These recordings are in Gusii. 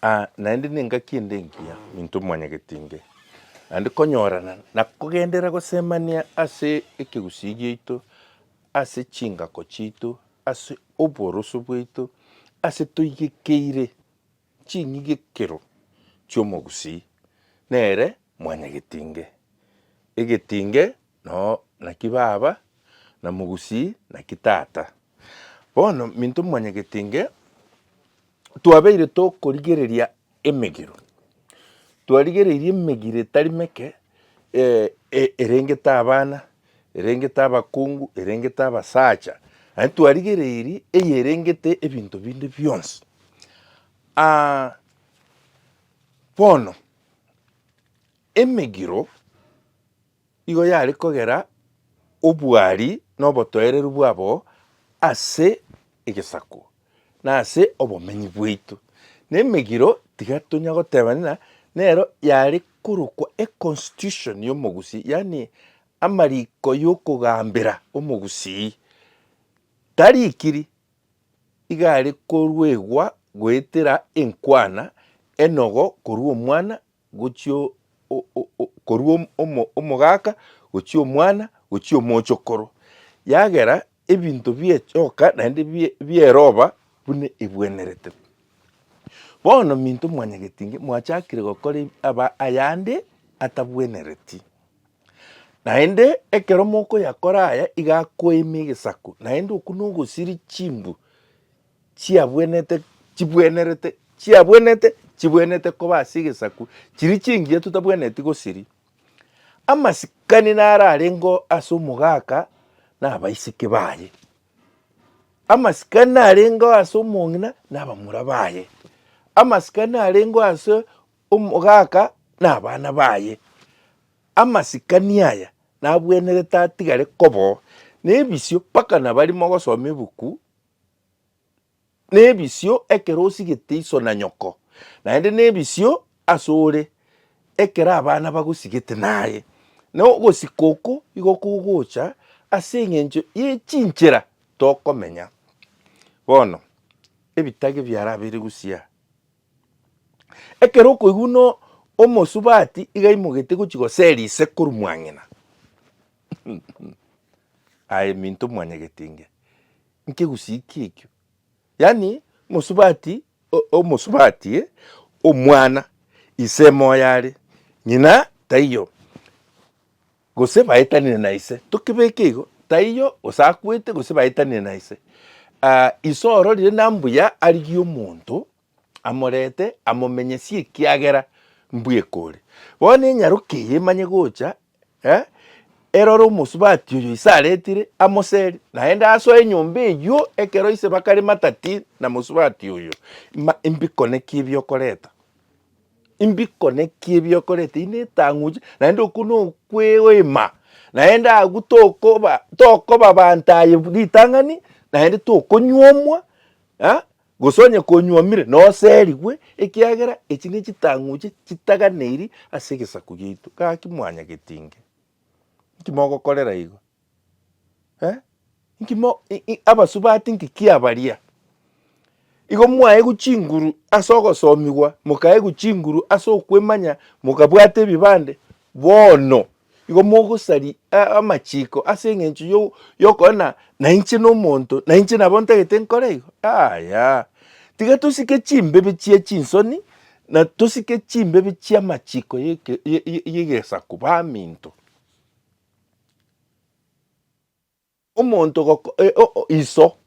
Aa naende nengaki ende engiya into mwanyagetinge naende konyorana na kogenderera gosemania ase ekegusii giaito, ase chingako chiaito, ase oboroso bwaito, ase toigekeire ching'igekero chi'omogusii, nere mwanyagetinge. Egetinge noo naki baba, na mogusii naki tata. Bono minto mwanyagete inge twabeire tokorigereria emegiro, twarigereirie emegiro etari meke erengete abana, erengete abakungu, erengete abasacha, aye twarigereirie eye erengete ebinto binde bionsi. bono emegiro Igo yare kogera obwari na obotoereru bwabo ase egesaku, na ase obomenyi bwaito. Na emegiro tiga tonya goteba ng'a nero yare korokwa econstitution y'omogusii, yaani amariko y'okogambera omogusii. Tarikiri, iga are koruegwa goetera enkwana enogo korwa omwana gochia korwa omogaka, gochia omwana, gochia omochokoro, yagera ebinto biechoka naende bieroba buna ebwenerete. Bono minto mwanyagetinge mwachakire gokora ayande atabwenereti, naende ekero mokoyakora aya igakoima egesaku, naende okwo nogosiria chimbu chiabwenete, chibwenerete, chiabwenete, chibwenete koba ase egesaku, chiria chingiya totabweneti gosiria. Amasikani naro arengeo ase omogaka na abaiseke baye. Amasikani narengeo ase omong'ina na abamura baye. Amasikani narengeo ase omogaka na abana baye. Amasikani aya nabwenerete atigare koba oo. Na ebisio mpaka nabari mogosoma ebuku nebisio ekero osigete iso na nyoko, naende nebisio ase ore ekero abana bagosigete naye. Na ogosika oko igo kogocha ase engencho ye chinchera tokomenya. Bono ebitage biarabeire Gusii, ekero okoigwa buna omosubati iga aimogetie gochia gosera ise korwa mwang'ina, Aye minto mwanyagete inge nkegusii ki ekio? Yaani mosubati omosubati eh omwana ise moyo are ng'ina taiyo gose baetanire na ise tokebeke igo taiyo gose akwete gose baetanire na ise. Ise ororire na mbuya arigie omonto. amorete amomenyesie ekiagera mbweka ore. Bono enyaroke eye emanye gocha, eh, erore omosubati oyo ise aretire amoseri, naende asoe enyomba eyio ekero ise bakare matati na mosubati oyo. Ma mbikonekie ebiokoreta, mbikonekie ebiokoreta ine etang'uche, naende okwo nokweoima, naende agwo tokoba tokoba abanto aye ritang'ani, naende tokonyuomwa, eh. Gose onye konywomire, noserigwe, ekiagera echi nechitang'uche chitaganeirie ase egesaku giaito. Gaki mwanyageti inge, inki mogokorera igo? Eh? Inki mo, i, i, abasubati inki kiabaria? Igo mwaegwa chinguru ase ogosomigwa, mokaegwa chinguru ase okwemanya, mokabwata ebibande, bono Igo mogosaria amachiiko ase engencho y'okogena na inche nomonto, na inche nabo ntagete nkore igo? Yaya. Tiga tosike chimbibe chia chinsoni, na tosike chimbibe chi'amachiiko y'egesaku baminto. Omonto ogoko, eh, o, o, iso,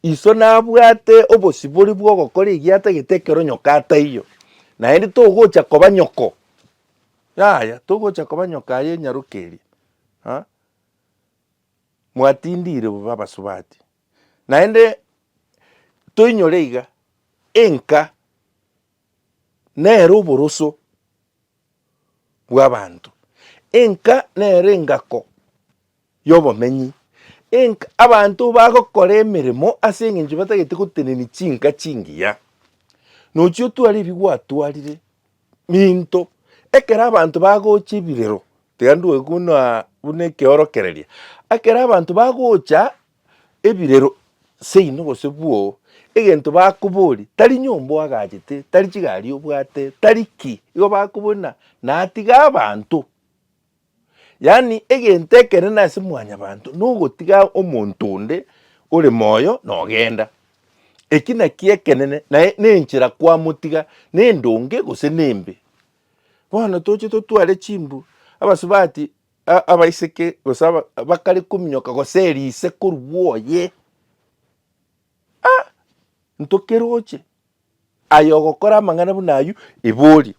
iso nabwate obosibori bw'ogokora egiatagete ekero nyoko ataiyo, naende togocha koba nyoko, yaya, togocha koba nyoko aye enyaroke eria, ha, mwatindire bobe abasubati. Naende toinyore iga, enka nere oboroso. bw'abanto, enka nero engako y'obomenyi, enka abanto bagokora emeremo ase engencho batagete gotenenia chinka chingiya. Nochi otware ebi gwatwarire minto ekero abanto bagocha ebirero, tiga ndwoigwe buna buna ekeorokereria, ekero abanto bagocha ebirero seino gose bwoo, egento bakoborie tari nyomba oagachete, tari chigari obwate, tari ki, igo bakoboria na natiga abanto. Yaani egento ekenene ase mwanyabanto nogotiga omonto onde ore moyo na ogenda. Eki naki ekenene naye nenchera kwamotiga nendonge gose nembe. Bono toche totware chimbu abasubati. A- abaiseke gose aba- bakare kominyoka gose erise korwa oye ntokeroche aye ogokora amang'ana buna ayio ebori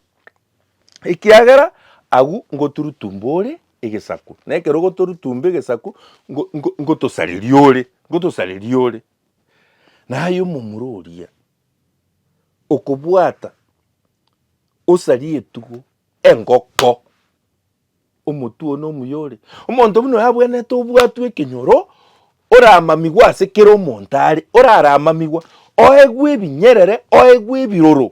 ekiagera agwo ngoturutumba ore egesaku na ekero ogotorutumba egesaku ngo- ngo- ngotosareria ore ngotosareria ore naye omomura oria okobwata osaria etugo engoko Omotwe one omuya ore. Omonto buna oyo abwenerete obwatwe ekenyoro, oramamigwe ase kera omonto are, oraramamigwa, oegwe ebinyerere, oegwe ebiroro.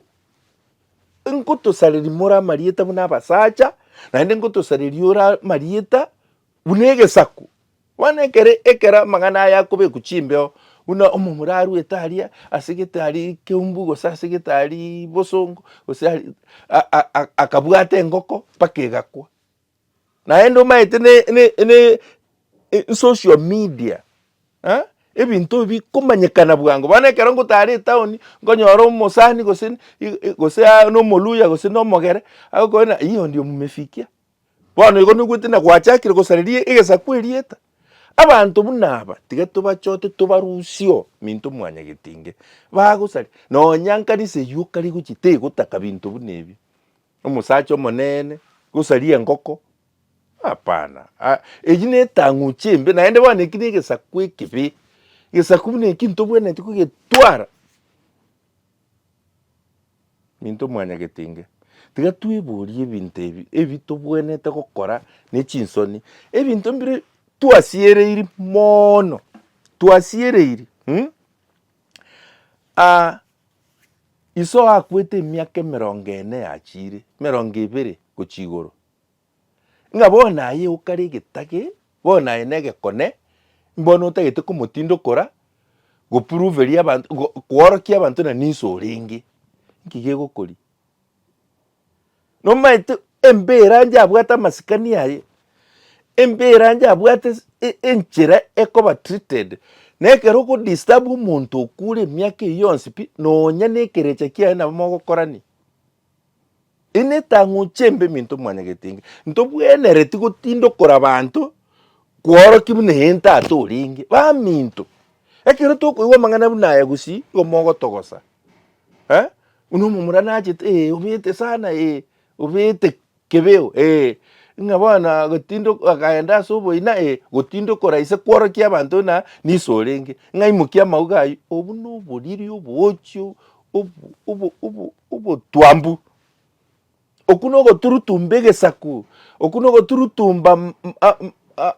Nkotosareria more amarieta buna abasacha, naende nkotosareria ore amarieta buna egesaku, Bono ekero ekero amang'ana aya akobekwa chimbeo, buna omomura arwete aria ase getari keumbu gose ase getari bosongo, gose akabwata engoko mpaka egakwa. Naende omanyete social media ebinto ebi bikomanyekana bwango. Bono ekero ngotara etaoni, nkonyora omosani gose omoluhya gose omogere agokoebera ng'a oyo ndiye omomefikia. Bono igo noigwete na gwachakire gosareria egesaku erieta. Abanto buna aba tiga tobachote tobarusie oo minto mwanya getinge. Bagosaria. Nonya nkanisa eyio okare gochia tegotaka binto buna ebio. Omosacha omonene gosaria engoko hapana. Eyio ne etang'uche embe naende bono eki ne egesaku ekebe. Egesaku buna eki ntobwenereti kogetwara. Minto mwanyagete inge, tiga tweborie ebinto ebi ebi tobwenerete gokora ne chinsoni, ebinto mbire twasiereiri moono, twasiereiri mm, ah, iso akwete emiaka emerongo ene yachiire, emerongo ebere gochia igoro. ng'a bono aye okare egetage, bono aye negekone, mbono otagete komotindokora, gopuruveria abanto, go koorokia abanto na ninso orenge, nki gegokoria? Nomaete embira anja abwate amasikani aye, embira anja abwate ase e- enchera ekoba treated, na ekero ogodisturb omonto okure emiaka eyio yonsi pi, nonya nekerecha kiaye nabo mogokorani. Ere netang'u chiembe eminto mwanyagetenge, ntobwenereti gotinda okorabanto kworokia buna eye ntata orenge. Baminto, ekero tokoigwa amang'ana buna aya gusii igo mogotogosa, eh, buna omomura nachete eh obete sana eh obete Kebeo, ee, ng'a bono gotinda akaenda ase oboina, ee, gotinda okora ise kworokia abanto na niso orenge, ng'a imokia amauga ayio, obwo noboriri oboochi obo obo obotwambu. Okwo nogoturutumba egesaku, okwo nogoturutumba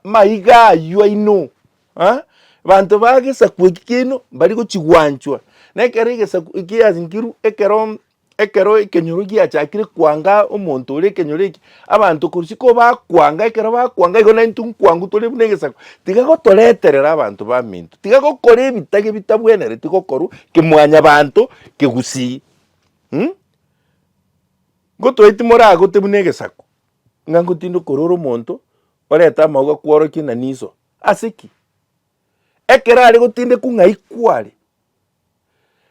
amaiga aywo aino, ha? Abanto ba gesaku eki keino mbari gochigwanchwa, na ekero egesaku ekiasinkerwe ekero. Ekero ekenyoro giachakire kwanga omonto oria ekenyoro eke, abanto korisia ko bakwanga, ekero bakwanga igo naintwe nkwangu tore buna egesaku. Tiga gotoreterera abanto baminto, tiga gokora ebitage bitabwenereti gokorwa kemwanyabanto kegusii um Ngotoeti moragote buna egesaku, ng'a ngotinda okorora omonto orete amauga kworokie na niso. Ase ki? Ekero are gotindekwa ng'a ikware,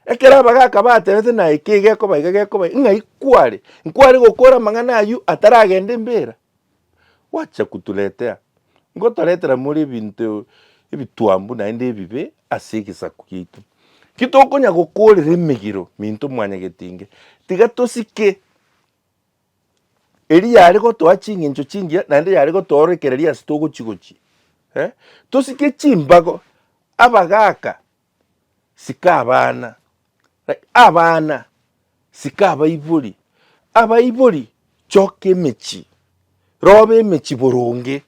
Ekero abagaaka bateebete naye ki gekoba iga gekoba iga, ng'ai kware? Nkware gokora amang'ana ayio ataragenda embeera? Gwacha koturetea, ngotoretera more ebinto ebitwambu naende ebibe ase egesaku giaito. Ki tokonya gokorera emegiro minto mwanyagetinge? Tiga tosike eria yare gotoa ching'encho chingiya naende yare gotoorekereria ase togochi-gochi. Tosike chimbago abagaaka sika abana, abana sika abaibori, abaibori choka emechie, roba emechie boronge,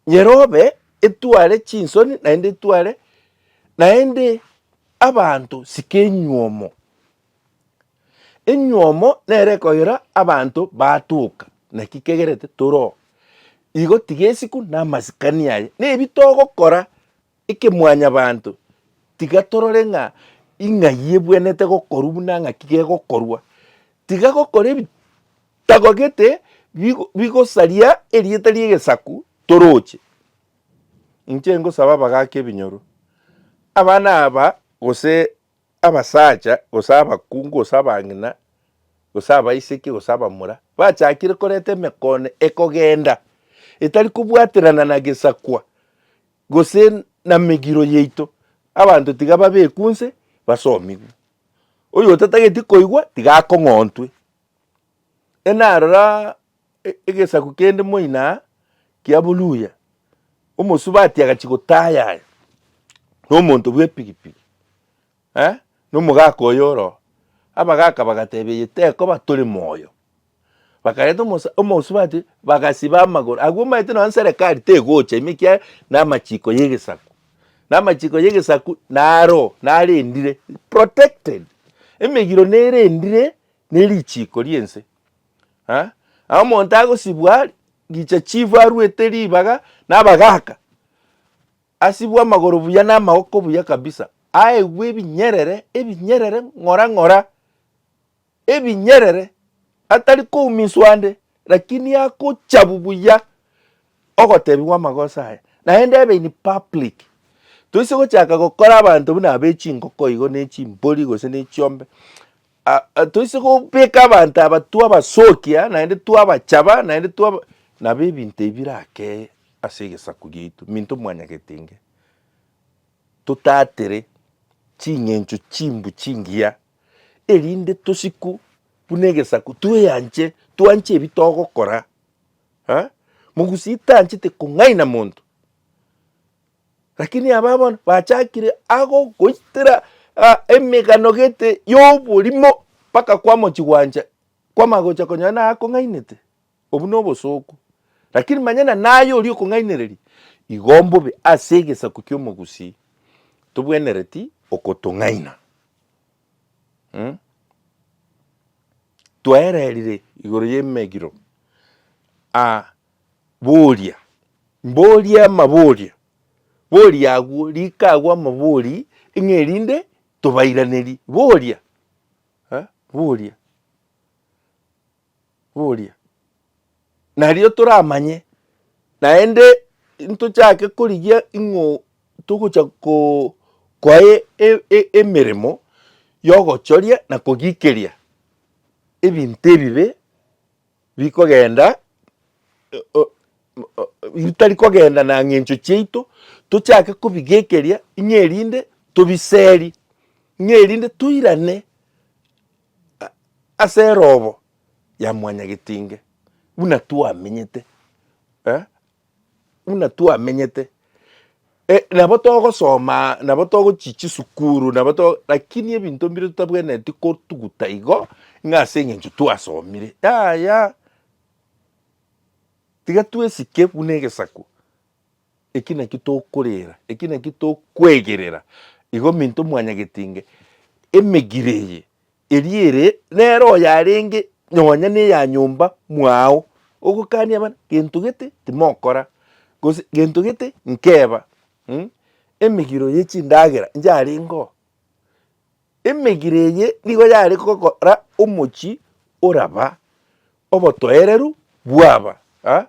nyerobe etware chinsoni naende etware, naende abanto sika enywomo, enywomo nere ekoira abanto batoka naki kegerete toro oo. Igo tiga esiko na amasikani aye, na ebi togokora. Eke mwanyabanto, tiga torore ng'a ing'ai ebwenete gokorwa buna ng'aki gegokorwa. Tiga gokora ebitagogete bigosaria erieta ri'egesaku toroche. Inche ngosaba abagaaka ebinyoro, abana aba, gose abasacha, gose abakungu, gose abang'ina, gose abaiseke, gose abamura, bachakire koreta emekoone ekogenda etari kobwaterana na gesakwa gose namegiro yaito, abanto tiga babekwe onse basomigwe. Oyotatageti koigwa tiga akong'ontwe. Enarora egesaku kende moina aa kia Buluya, omosubati agachia gotayaya nomonto bw'epigipigi. Eh, nomogaka oyo oro. Abagaka bagateebia, Eye tekoba tore moyo. Bakareta omosa, omosubati, bagasiba amagoro. Agwo omaete nonya serekari tegocha ime ekiagera namachiko y'egesaku. Namachiko y'egesaku naro, narendire, protected. Emegiro nerendire ne richiko ri'ense. Eh, na omonto agosibwa, richa chifu aruete ribaga, nabagaka. Asibwe amagoro buya na amaoko buya kabisa, aegwe ebinyerere, ebinyerere ng'ora ng'ora, ebinyerere, atari koumiswa ande, lakini agochabu buya ogotebiwa amagoso aye, naende ebe in public. Toise gochaka gokora abanto buna abe chingoko igo ne chimbori gose ne chiombe, Aa, toise kobeka abanto aba twabasokia, naende twabachaba, naende twaba nabo ebinto ebi birakeye ase egesaku giaito, minto mwanyagete inge totatere ching'encho chimbu chingiya, erinde tosiku buna egesaku tweanche, twanche ebi togokora. Aa, mogusii tanchete kong'aina monto, Lakini aba bono bachakire ago goitera ah, emegano gete y'oborimo mpaka kwamochi gwancha kwamagocha konyora naye akong'ainete obwo nobosooku lakini manya na naye oria okong'ainereria igo mbobe ase egesaku ki'omogusii tobwenereti okotong'aina mm? twaererire igoro y'emegiro ah, Boria, mboria amaborio. Boria agwo, rika agwo amabori ng'a erinde tobairanerie. Boria, eh, boria, boria. Nario toramanye, naende ntochake korigia ng'a togocha ko- koa e- e- e- emeremo yogochoria na kogikeria ebinto ebibe. rikogenda, ritari kogenda na ng'encho chiaito, tochake kobigekeria ng'a erinde tobiserie, ng'a erinde toirane ase erobo ya mwanyagetinge buna twamenyete. buna twamenyete, eh, nabo togosoma, nabo togochia chisukuru, nabo to lakini ebinto mbire totabwenereti kotuguta igo, ng'a ase eng'encho twasomire. Yaya, tiga twesike buna egesaku, eki naki tokorera, eki naki tokwegerera, igo minto mwanyagetinge emegire eye Erio ere nere oyarenge nonya neya nyomba mwao, ogokania abana, gento gete timokora, gose gento gete nkeba, mm, emegiro ye chindagera inche arengeo. Emegiro eye nigo yare gokora omochi oraba obotoereru bwaba ah,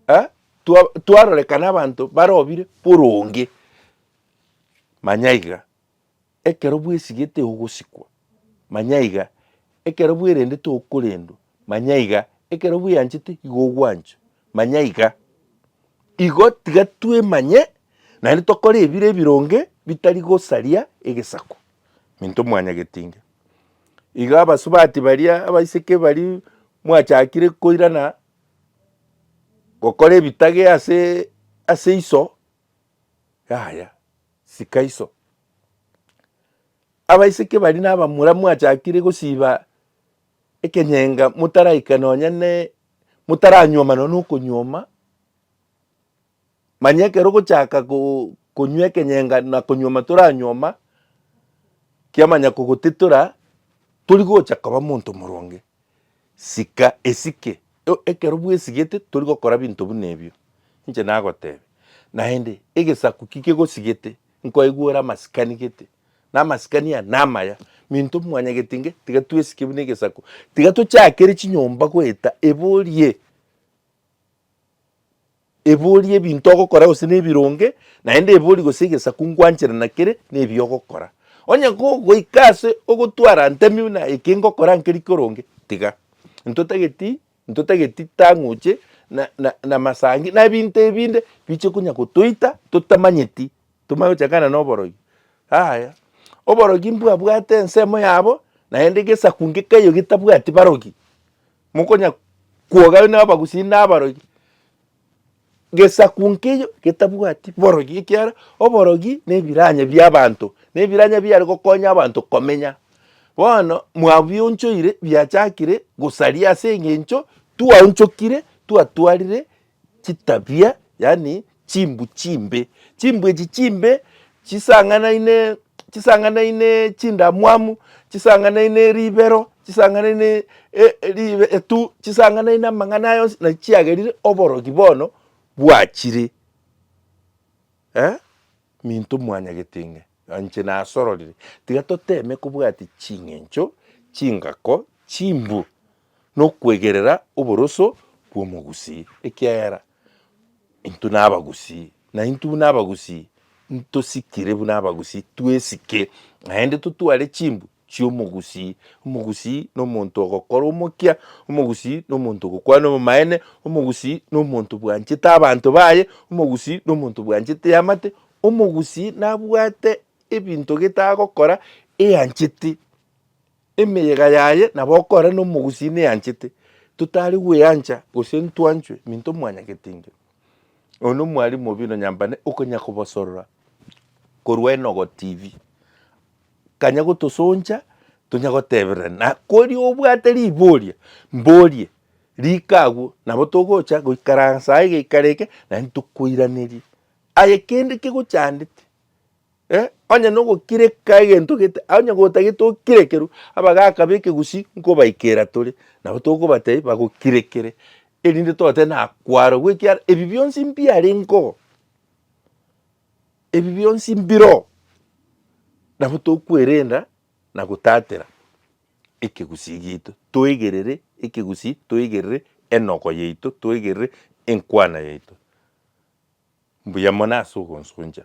ah, twa twarorekana abanto barobire boronge. Manya iga. Ekero bwesigete ogosikwa, manya iga, ekero bwerendete okorendwa, manya iga, ekero bweanchete igo ogwanchwa, manya iga. Igo tiga twemanye, naende tokore ebire ebironge bitari gosaria egesaku, minto mwanyagetinga. Iga abasubati baria, abaiseke baria mwachakire koirana gokora ebitage ase ase iso, yaya. sika iso. Abaiseke baria nabamura mwachakire gosiba ekenyenga motaraika nonya ne motaranyuoma nonya nokonyuoma, manya ekero ogochaka konywa ekenyenga na konyuoma toranyuoma, kiamanya kogotitora torigocha koba omonto moronge. Sika esike. Ekero bwesigete tori gokora binto buna ebio. Inche nagotebe, Naende, egesaku ki kegosigete? Nkoigwera amasikani gete, na amasikani aya namaya. Minto mwanya getinge, tiga twesike buna egesaku. Tiga tochakere chinyomba goeta ebe orie. Eboria ebinto ogokora gose nebironge, naende eboria gose egesaku ngwanchera nakere nebi ogokora. Onye goika ase ogotwara ntemi buna eke ngokora nkeri koronge, tiga. Ntotageti ntotageti tang'uche na na namasangi na ebinto ebinde biche konya gotoita totamanyeti tomanye gochakana na oborogi. Yaya oborogi mbwabwate ensemo yabo naende gesaku ngekaiyo getabwati barogi. Mokonya kwogayo nabagusii na abarogi, gesaku nkeiyo getabwati borogi, ekiagera oborogi na ebiranya bia abanto, na ebiranya biare gokonya abanto komenya. Bono mwabionchoire biachakire gosaria ase engencho twaonchokire twatwarire chitabia, yaani chimbu chimbe. Chimbu echi chimbe chisang'anaine, chisang'anaine chindamwamu, chisang'anaine ribero, chisang'anaine e- e- ribe etu, chisang'anaine amang'ana aya onsi naki chiagerire oborogi bono bwachire. Eh, minto mwanyagete ng'ee. Inche nasororire, tiga toteeme kobwatia ching'encho chingako chimbu nokwegerera oboroso bw'omogusii, ekiagera intwe nabagusii, na intwe buna abagusii ntosikire buna abagusii twesike, naende totware chimbu chi'omogusii. Omogusii na omonto ogokora omokia, omogusii na omonto ogokwana obomaene, omogusii na omonto bwanchete abanto baye, omogusii na omonto bwanchete eamate, Omogusii nabwate ebinto gete agokora eanchete, emeyega yaye nabo okore nomogusii neanchete. Totari gweancha gose ntwanchwe minto mwanyagetinge. Oyo nomwalimu obino nyambane okonya kobosorora korwa Enogo TV. Kanya gotosoncha tonya goteberera na kori obwate riboria mborie rika agwo nabo togocha goikaransa iga ikarege naende tokoiraneria Aye kende kegochandete, eh, onye nogokireka egento gete, onye gotagete okirekerwe, abagaka b'ekegusii nkobaikera tore, nabo tokobatebia bagokirekere, erinde tote na kwarogwa, ekiara ebi bionsi mbiarengeo, ebi bionsi mbiroo, nabo tokwerenda na gotatera ekegusii giaito, toegerere ekegusii, toegerere enogo yaito, toegerere enkwana yaito. Mbuya mono ase ogonsoncha.